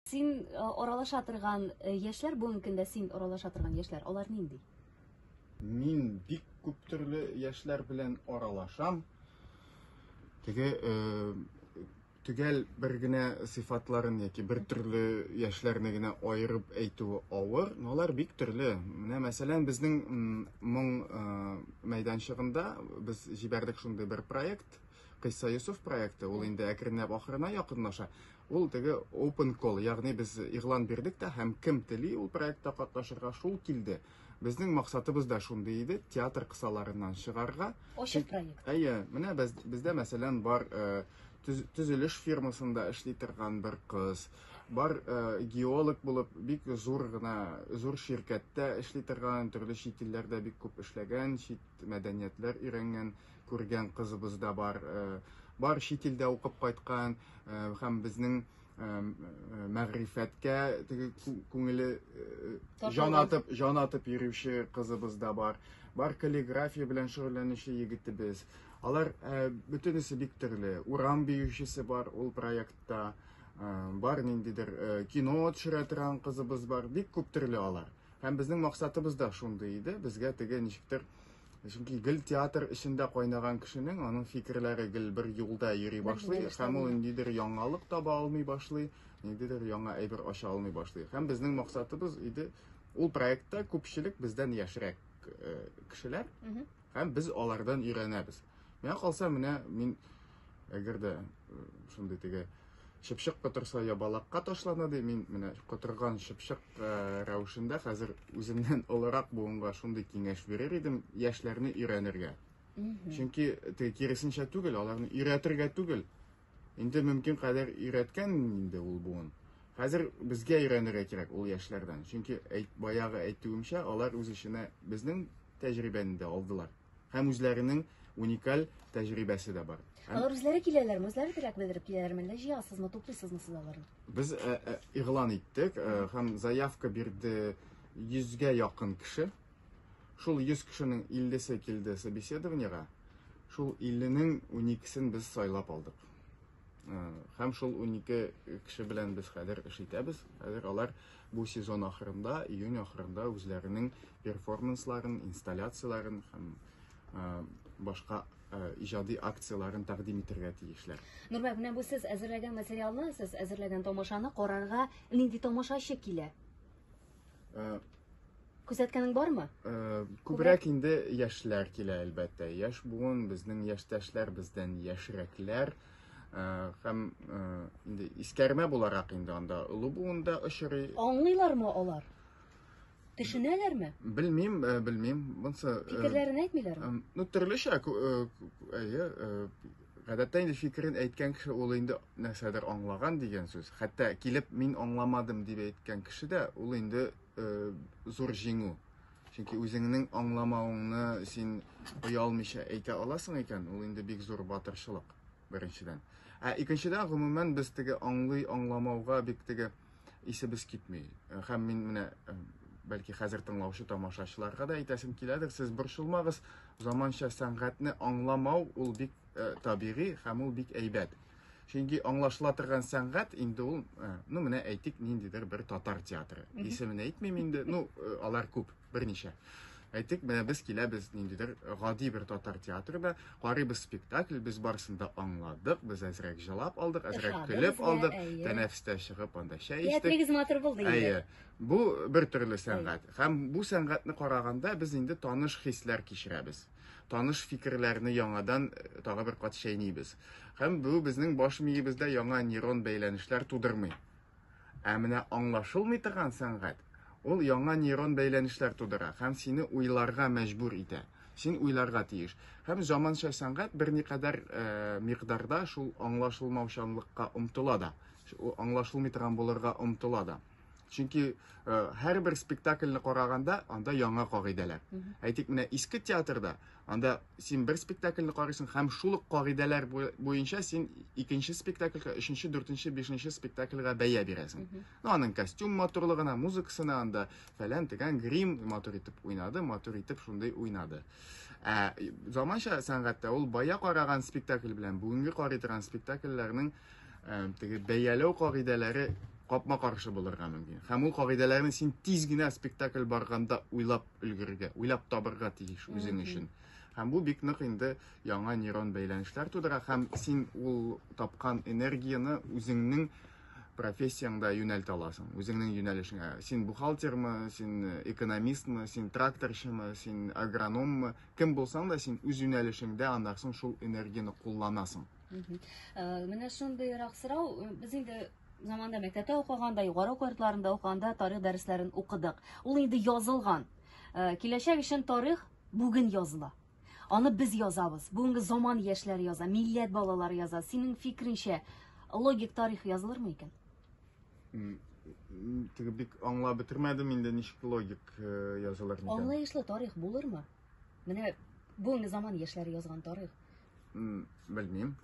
Син аралаша торган яшьләр бүгенге көндә син аралаша торган яшьләр алар нинди? Мин бик күп төрле яшьләр белән аралашам. Теге төгәл бер генә сыйфатларын яки бер төрле яшьләрне генә аерып әйтүе авыр, но алар бик төрле. Менә мәсәлән, безнең моң мәйданчыгында без җибәрдек шундый бер проект, Кыйса Юсуф проекты, ул инде әкренләп ахырына якынлаша. Ул теге open call, ягъни без игълан бирдек тә һәм кем тели ул проектта катнашырга шул килде. Безнең максатыбыз да шундый иде, театр кысаларыннан чыгарга. Ачык проект. Әйе, менә без, бездә мәсәлән бар э, төз, төзелеш фирмасында эшли торган бер кыз, бар э, геолог булып бик зур гына зур ширкәттә эшли торган, төрле чит илләрдә бик күп эшләгән, чит мәдәниятләр өйрәнгән күргән кызыбыз да бар. Бар чит илдә укып кайткан һәм безнең мәгърифәткә теге күңеле җан атып, җан атып йөрүче кызыбыз да бар. Бар каллиграфия белән шөгыльләнүче егетебез. Алар бөтенесе бик төрле. Урам биючесе бар ул проектта. Бар ниндидер кино төшерә торган кызыбыз бар. Бик күп төрле алар. Һәм безнең максатыбыз да шундый иде. Безгә теге ничектер Чөнки гел театр эчендә кайнаган кешенең аның фикерләре гел бер юлда йөри башлый һәм ул ниндидер яңалык таба алмый башлый, ниндидер яңа әйбер ача алмый башлый. Һәм безнең максатыбыз иде ул проектта күпчелек бездән яшьрәк э, кешеләр һәм без алардан өйрәнәбез. Миңа калса, менә мин Әгәр дә шундый теге чыпчык котырса я балакка ташлана ди, мин менә котырган чыпчык рәвешендә хәзер үземнән олырак буынга шундый киңәш бирер идем, яшьләрне өйрәнергә. Чөнки теге киресенчә түгел, аларны өйрәтергә түгел. Инде мөмкин кадәр өйрәткән инде ул буын. Хәзер безгә өйрәнергә кирәк ул яшьләрдән. Чөнки әйт, баягы әйтүемчә, алар үз эченә безнең тәҗрибәне дә алдылар. һәм үзләренең уникаль тәҗрибәсе дә бар. Алар үзләре киләләрме, үзләре теләк белдереп киләләрме, әллә җыясызмы, туплыйсызмы сез аларны? Без э, э, игълан иттек э, һәм заявка бирде 100гә якын кеше. Шул 100 кешенең 50-се килде собеседованиегә. Шул 50-нең 12-сен без сайлап алдык. Һәм шул унике кеше белән без хәзер эш итәбез. Хәзер алар бу сезон ахырында, июнь ахырында үзләренең перформансларын, инсталляцияләрен һәм башка иҗади акцияләрен тәкъдим итәргә тиешләр. Нурбәк, менә бу сез әзерләгән материалны, сез әзерләгән тамашаны карарга нинди тамашачы килә? Э, Күзәткәнең бармы? Э, күбрәк инде яшьләр килә, әлбәттә. Яшь буын, безнең яшьтәшләр, бездән яшьрәкләр. Э, һәм э, инде искәрмә буларак инде анда олы буында очрый. Аңлыйлармы алар? Төшенәләрме? Белмим, белмим. Монсы Фикерләрен әйтмиләрме? Ну, төрлечә, әйе, Гадәттә инде фикерен әйткән кеше ул инде нәрсәдер аңлаган дигән сүз. Хәтта килеп мин аңламадым дип әйткән кеше дә ул инде э, зур җиңү. Чөнки үзеңнең аңламавыңны син оялмыйча әйтә аласың икән, ул инде бик зур батырчылык беренчедән. Ә икенчедән, гомумән без теге аңлый аңламауга бик теге исебез китми. Һәм мин менә бәлки хәзер тыңлаучы тамашачыларга да әйтәсем киләдер, сез борчылмагыз, заманча сәнгатьне аңламау ул бик ә, табигый һәм ул бик әйбәт. Чөнки аңлашыла торган сәнгать инде ул, ә, ну менә әйтик, ниндидер бер татар театры. Исемен әйтмим инде, ну алар күп. Берничә. Әйтик, менә без киләбез ниндидер гади бер татар театрына, карыйбыз спектакль, без барысын да аңладык, без әзрәк җылап алдык, әзрәк Ошады көлеп безгә, алдык, әйе. тәнәфестә чыгып анда чәй эчтек. Театрыгыз матур булды инде. Әйе. Бу бер төрле сәнгать. Һәм бу сәнгатьне караганда без инде таныш хисләр кичерәбез. Таныш фикерләрне яңадан э, тагы бер кат чәйнибез. Һәм бу безнең баш миебездә яңа нейрон бәйләнешләр тудырмый. Ә менә аңлашылмый торган сәнгать, ул яңа нейрон бәйләнешләр тудыра һәм сине уйларга мәҗбүр итә. Син уйларга тиеш. Һәм заманча сәнгать берникадәр э, микъдарда шул аңлашылмаучанлыкка омтыла да, аңлашылмый торган булырга омтыла да. Чөнки э, һәрбер спектакльне караганда анда яңа кагыйдәләр. Әйтик, менә иске театрда Анда син бер спектакльне карыйсың һәм шул ук кагыйдәләр буенча син икенче спектакльгә, өченче, дүртенче, бишенче спектакльгә бәя бирәсең. Ну, аның костюм матурлыгына, музыкасына, анда фәлән тегән грим матур итеп уйнады, матур итеп шундый уйнады. Ә заманча сәнгатьтә ул бая караган спектакль белән бүгенге карый торган спектакльләрнең теге бәяләү кагыйдәләре капма-каршы булырга мөмкин. Һәм ул кагыйдәләрне син тиз генә спектакль барганда уйлап өлгерергә, уйлап табырга тиеш үзең өчен. Һәм бу бик нык инде яңа нейрон бәйләнешләр тудыра һәм син ул тапкан энергияне үзеңнең профессияңда юнәлт аласың, үзеңнең юнәлешеңә. Син бухгалтермы, син э, экономистмы, син тракторчымы, син агрономмы, кем булсаң да син үз юнәлешеңдә аннан соң шул энергияне кулланасың. Э, менә шундыйрак сорау, э, без инде Заманда мәктәптә укыганда, югары уку йортларында укыганда тарих дәресләрен укыдык. Ул инде язылган. Э, киләчәк өчен тарих бүген языла. Аны без язабыз. Бүгенге заман яшьләре яза, милләт балалары яза. Синең фикреңчә, логик тарих язылырмы икән? Теге бик аңлап бетермәдем инде ничек логик э, язылыр микән. Аңлаешлы тарих булырмы? Менә бүгенге заман яшьләре язган тарих. Белмим.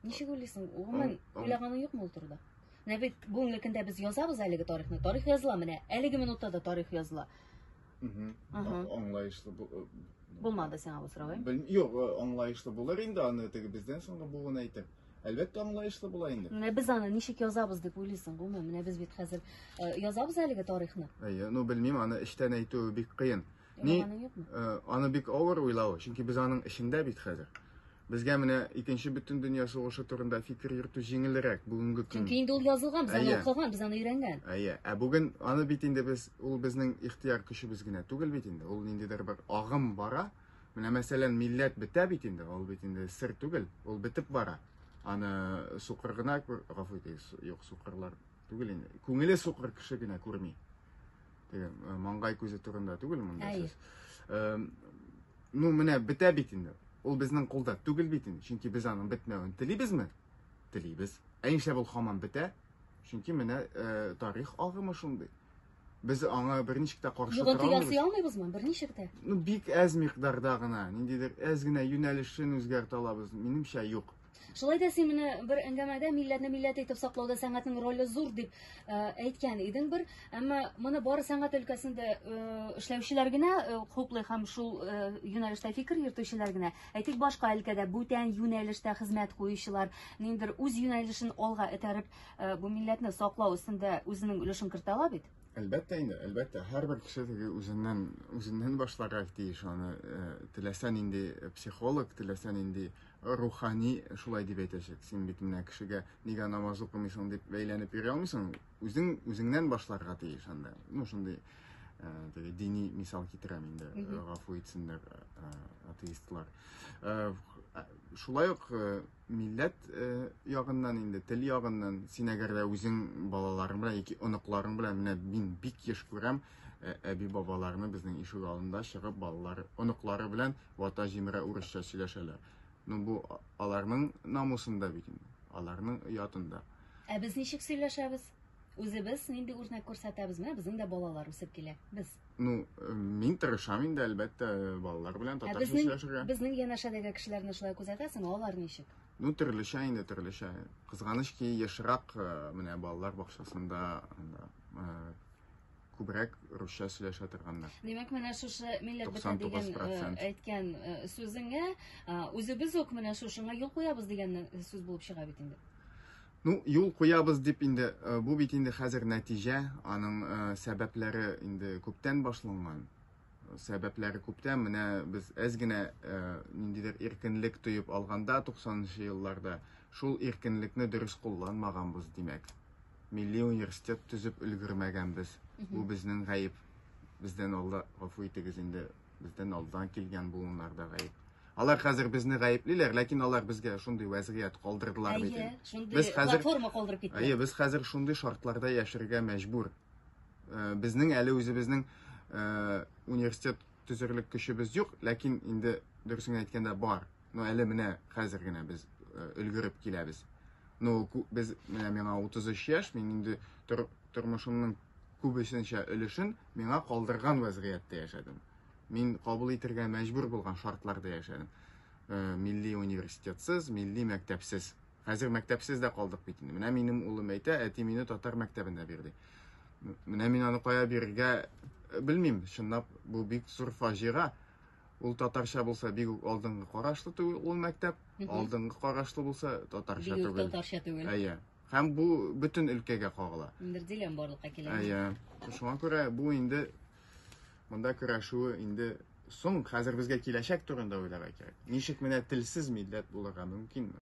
Ничек уйлыйсың, гомумән уйлаганың юкмы ул турыда? Менә бит бүгенге көндә без язабыз әлеге тарихны. Тарих языла менә, әлеге минутта да тарих языла. Аңлаешлы булмады сиңа бу сорау, әйме? Юк, аңлаешлы булыр инде аны теге бездән соңгы буын әйтеп. Әлбәттә аңлаешлы була инде. Менә без аны ничек язабыз дип уйлыйсың, гомумән, менә без бит хәзер язабыз әлеге тарихны. Әйе, ну белмим, аны эчтән әйтү бик кыен. Ни, э, аны бик авыр уйлау, чөнки без аның эчендә бит хәзер. Безгә менә икенче бөтен дөнья сугышы турында фикер йөртү җиңелрәк бүгенге көн. Чөнки инде ул язылган, без аны укыган, без аны өйрәнгән. Әйе, ә бүген аны бит инде без, ул безнең ихтияр көчебез генә түгел бит инде. Ул ниндидер бер агым бара. Менә мәсәлән, милләт бетә бит инде, ул бит инде сер түгел, ул бетеп бара. Аны сукыр гына, гафу итегез, юк, сукырлар түгел инде. Күңеле сукыр кеше генә күрми. теге э, маңгай күзе турында түгел монда сүз э, ну менә бетә бит инде ул безнең кулда түгел бит инде чөнки без аның бетмәвен телибезме телибез ә нишләп ул һаман бетә чөнки менә э, тарих агымы шундый без аңа берничек тә каршы тора алмыйбыз ясый алмыйбызмы берничек тә ну бик әз микъдарда гына ниндидер әз генә юнәлешен үзгәртә алабыз минемчә юк Шулай да син менә бер әңгәмәдә милләтне милләт итеп саклауда сәнгатьнең роле зур дип э, әйткән идең бер. Әмма моны бары сәнгать өлкәсендә э, эшләүчеләр генә э, хуплый һәм шул юнәлештә фикер йөртүчеләр генә. Әйтик, башка өлкәдә бүтән юнәлештә хезмәт куючылар ниндер үз юнәлешен алга этәреп, бу милләтне саклау өстендә үзенең өлешен кертә ала бит. Әлбәттә инде, әлбәттә, һәрбер кеше теге үзеннән үзеннән башларга тиеш аны. Теләсә нинди психолог, теләсә нинди рухани шулай дип әйтәчәк. Син бит менә кешегә нигә намаз укымыйсың дип бәйләнеп йөри алмыйсың. Үзең үзеңнән башларга тиеш анда. Ну шундый теге дини мисал китерәм инде. Гафу итсеннәр атеистлар. Шулай ук милләт ягыннан инде, тел ягыннан син әгәр дә үзең балаларың белән яки оныкларың белән менә мин бик еш күрәм, әби бабаларны безнең ишек алдында чыгып балалар, оныклары белән вата җимерә урысча сөйләшәләр. Ну бу аларның намусында бит инде, аларның оятында. Ә без ничек сөйләшәбез? Үзебез нинди үрнәк күрсәтәбез? Менә безнең дә балалар үсеп килә. Без. Ну, э, мин тырышам инде, әлбәттә, балалар белән татарча сөйләшергә. Безнең янәшәдәге кешеләрне шулай күзәтәсең, алар ничек? Ну, төрлечә инде, төрлечә. Кызганыч ки, ешрак э, менә балалар бакчасында э, күбрәк русча сөйләшә торганнар. Димәк, менә шушы милләт бетә дигән э, әйткән э, сүзеңә э, үзебез үк менә шушыңа юл куябыз дигән сүз булып чыга бит инде. Ну, юл куябыз дип инде, бу бит инде хәзер нәтиҗә, аның сәбәпләре инде күптән башланган. Сәбәпләре күптән, менә без әз генә ниндидер иркенлек тоеп алганда 90 нчы елларда, шул иркенлекне дөрес кулланмаганбыз, димәк. Милли университет төзеп өлгермәгәнбез. Бу безнең гаеп. Бездән алда гафу итегез инде, бездән алдан килгән буыннарда гаеп. Алар хәзер безне гаеплиләр, ләкин алар безгә шундый вәзгыять калдырдылар бит. Әйе, шундый без хәзер, платформа калдырып киттеләр. Әйе, без хәзер шундый шартларда яшәргә мәҗбүр. Э, безнең әле үзебезнең э, университет төзерлек көчебез юк, ләкин инде дөресен әйткәндә бар. Ну, әле менә хәзер генә без э, өлгереп киләбез. Ну, без менә миңа 33 яшь, мин инде тор, тормышымның күбесенчә өлешен миңа калдырган вазгыятьтә яшәдем. Мин кабул итергә мәҗбүр булган шартларда яшәдем. Э, милли университетсыз, милли мәктәпсез. Хәзер мәктәпсез дә калдык бит инде. Менә минем улым әйтә, әти мине татар мәктәбенә бирде. Менә мин аны кая бирергә э, белмим. Чынлап бу бик зур фаҗига. Ул татарча булса, бик үк алдынгы карашлы түгел ул мәктәп, алдынгы карашлы булса, татарча түгел. Бик татарча түгел. Әйе. Һәм бу бөтен өлкәгә кагыла. Бер диләм барлыкка килә. Әйе. Шуңа күрә бу инде монда көрәшүе инде соң, хәзер безгә киләчәк турында уйларга кирәк. Ничек менә телсез милләт булырга мөмкинме?